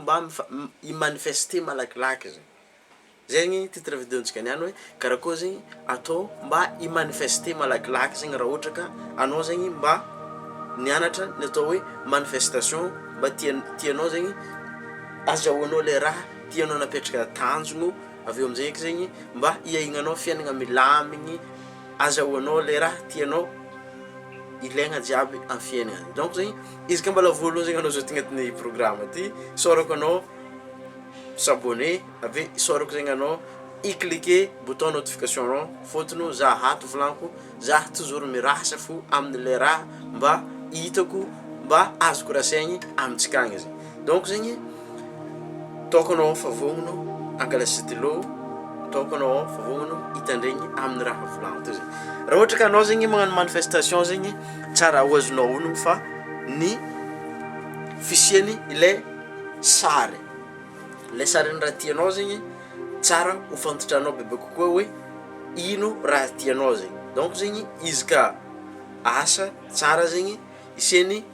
Mba i manifeste malakilaky zegny. Zegny titre video ntsika niany hoe karakory zegny atao mba i manifeste malakilaky zegny raha ohatra ka anao zegny mba nianatra ny atao hoe manifestation mba tia tianao zegny azahoanao le raha tianao napetraka tanjogno avy eo amzay eky zegny mba hiaignanao fiaignana milamigny azahoanao le raha tianao ilaigna jiaby am fiaignana donc zegny Izy ka mbola voalohany zegny anao zao tonga atin'ny programme ty, isaorako anao s'abonner avy eo isaorako zegny anao i cliquer bouton notification anao fôtony ô za ato volanko zah toujours mirasa fo amle raha mba hitako mba azoko rasaigny amintsika agny zegny. Donc zegny toaka anao fa vognono angala stylo toaka anao fa vognono hitandregny aminy raha volagno teo zegny raha ohatra ka anao zegny magnano manifestation zegny tsara ho azonao honogno fa ny fisiany ilay sary ilay sarin'ny raha tianao zegny tsara ho fantantranao bebe kokoa hoe ino raha tianao zegny donc zegny izy ka asa tsara zegny hisiany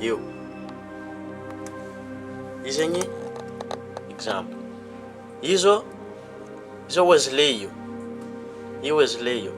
Eo. Izy agny exemple. Izo izo Wesley io. Io Wesley io.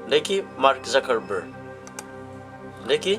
Ndraiky Mark Zuckerberg. Ndraiky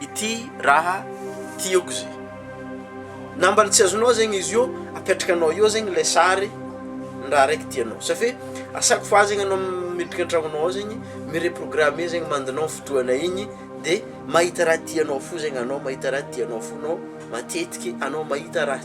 ity raha ity ok ze na mbala tsy azonao zegny izy io apetraka anao eo zegny le sary ny raha raiky tianao sa fe asako fa zegny anao miditra an-tragnonao ao zegny mi-reprogrammer zegny mandinao ny fotoana igny de mahita raha tianao fo zegny anao mahita raha tianao fo anao matetiky anao mahita raha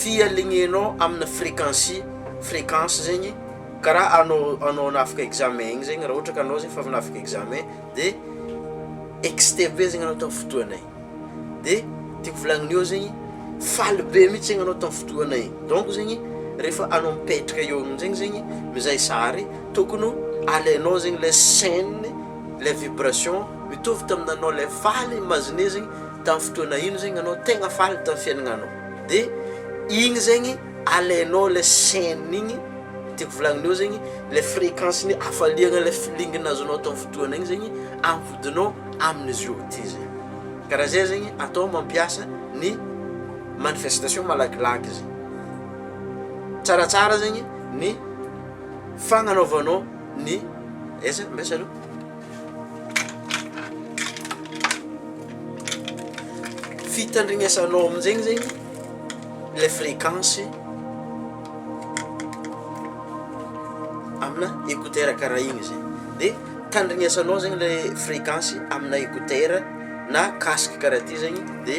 fialignenao amina frequency frequence zegny karaha anao anao hanafika examen igny zegny raha ohatra ka anao zegny efa avy hanafika examen de excité be zegny anao tamin'ny fotoana igny de tiako volagnina eo zegny faly be mihitsy anao tamin'ny fotoana igny donc zegny rehefa anao mipetraka eo amin'jegny zegny mizay sary tokony ho alainao zegny le scène Ilay vibration mitovy tamin'ny nanao ilay faly imaginer zegny tamin'ny fotoana ino zegny anao tegna faly tamin'ny fiainagnanao de igny zegny alainao ilay chaine igny tiako volagnin eo zegny ilay fréquence ny hafaliagna ilay feeling nazonao tamin'ny fotoana igny zegny ampodignao amin'ny zio ty zay karaha zay zegny atao mampiasa ny manifestation malakilaky izy tsaratsara zegny ny fagnanaovanao ny aiza mbs aloha fitandrignesanao amin'izegny zegny le frequence amina écouteur karaha igny zay de tandrignesanao zegny le frequence amina écouteur na casque karaha ty zegny de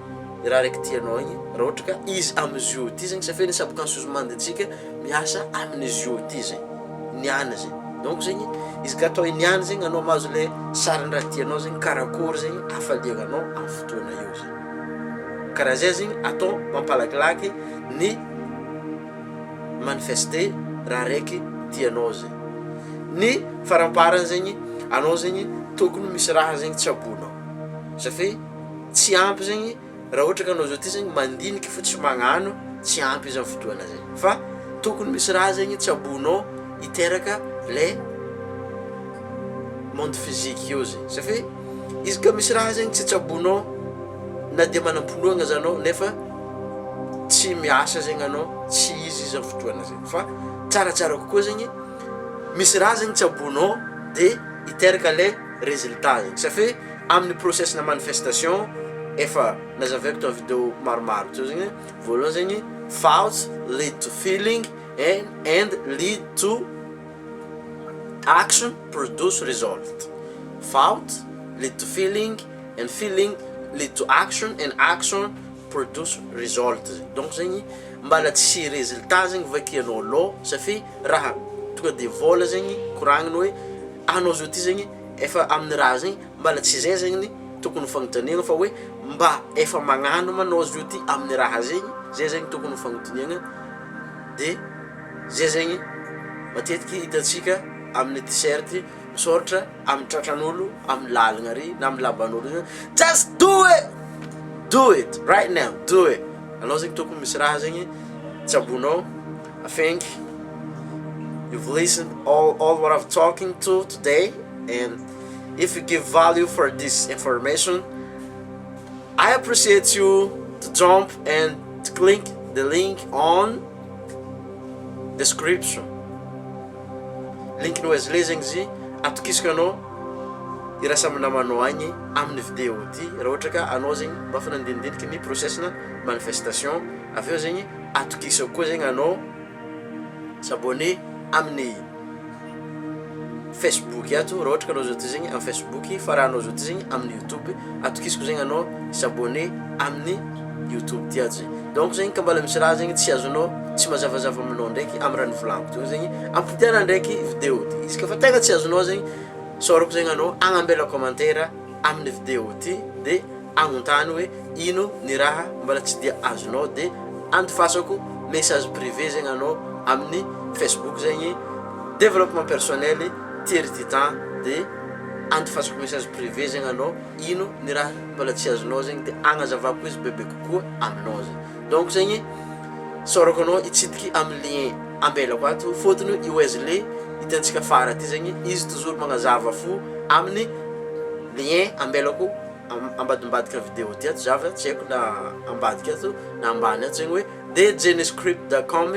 ny raha raiky tianao igny raha ohatra ka izy am'zy io ty zegny safia ny subconscious mind ntsika miasa amin'izy io ty zay niany zay donc zegny izy ka atao i niany zegny anao mahazo le sarin-draha tianao zegny karakôry zegny hafaliagna anao am' fotoana io zay karaha zay zegny atao mampalakilaky ny manifester raha raiky tianao zay ny faramparany zegny anao zegny tokony misy raha zegny tsaboinao safia Tsy ampy zegny raha ohatra ka anao zao ty zegny mandiniky fo tsy magnano tsy ampy izany fotoana zay fa tokony misy raha zegny tsaboinao hiteraka le monde physique io zegny satria izy ka misy raha zegny tsy tsaboinao na dia manam-pinoagna aza anao nefa tsy miasa zegny anao tsy izy izany fotoana zay fa tsaratsara kokoa zegny misy raha zegny tsaboinao de hiteraka le résultat zegny satria Amin'ny process na manifestation efa nazavaiko tao video maromaro teo zegny, voalohany zegny thoughts lead to feeling and and lead to action produce result, thought lead to feeling and feeling lead to action and action produce result zegny, donc zegny mbala tsy résultat zegny vakianao alôha safia raha tonga de vôla zegny koragniny hoe anao zao ty zegny Efa amin'ny raha zay mbala tsy zay zegny ny tokony ho fagnotaniagna fa hoe mba efa magnano ma anao zio ty amin'ny raha zegny, zay zegny tokony ho fagnotaniagna de zay zegny matetiky hitantsika amin'ny t-shirt misaoratra amin'ny tratran'olo amin'ny lalagna ary na amin'ny lavan'olo io just do it! do it right now do it! anao zegny tokony misy raha zegny tsabonao Thank you've listened all all what I've talking to today and if you give value for this information I appreciate you to jump and to click the link on description link no azy le zegny zy atokisiko anao iraisa amin'ny namanao agny amin'ny vidéo ty raha ohatra ka anao zegny mba efa nandinidiniky ny process-na manifestation avy eo zegny Atokisako koa zegny anao s'abonner amin'ny Facebook ato raha ohatra ka anao zao ty zegny amin'ny Facebook fa raha anao zao ty zegny amin'ny YouTube atokisako zegny anao s'abonner amin'ny YouTube ty ato zegny donc zegny ka mbala misy raha zegny tsy azonao tsy mazavazava aminao ndraiky amy raha nivolagniko teo zegny ampodiagna ndraiky video ty izy ka fa tegna tsy azonao zegny saorako zegny anao agnambela commentaire amin'ny video ty de Agnontano hoe ino ny raha mbala tsy dia azonao de andifasako message privé zegny anao amin'ny Facebook zegny développement personnel Thierry Titan de andifasako message privé zegny anao ino ny raha mbala tsy azonao zegny de agnazavako izy bebe kokoa aminao zegny donc zegny saorako anao hitsidiky amin'ny lien ambelako ato fôtony i Wesley hitantsika fara aty zegny izy toujours magnazava fo amin'ny lien ambelako ambadimbadika vidéo ty ato za fa tsy haiko na ambadika ato na ambany ato zegny hoe de jeniscript da com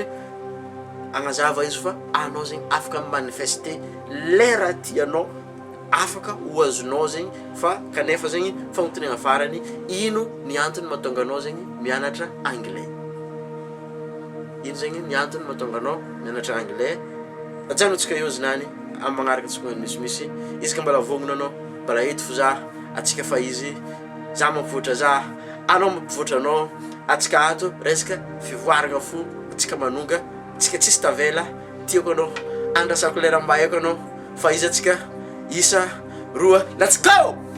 agnazava izy fa anao zegny afaka mi manifester lera tianao afaka ho azonao zegny fa kanefa zegny fagnontaniagna farany ino ny antony mahatonga anao zegny mianatra anglais ino zegny ny antony mahatonga anao mianatra anglais ajanontsika eo znany amy magnaraka tsy magnano misimisy izy ka mbola vognona anao Mbola eto fo zah atsika fa izy Zah mampivoatra zah anao mampivoatra anao Atsika ato resaka fivoaragna fo Atsika manonga Atsika tsisy tavela Tiako anao Andrasako lera mba haiko anao Fa izy atsika Isa roa Let's go!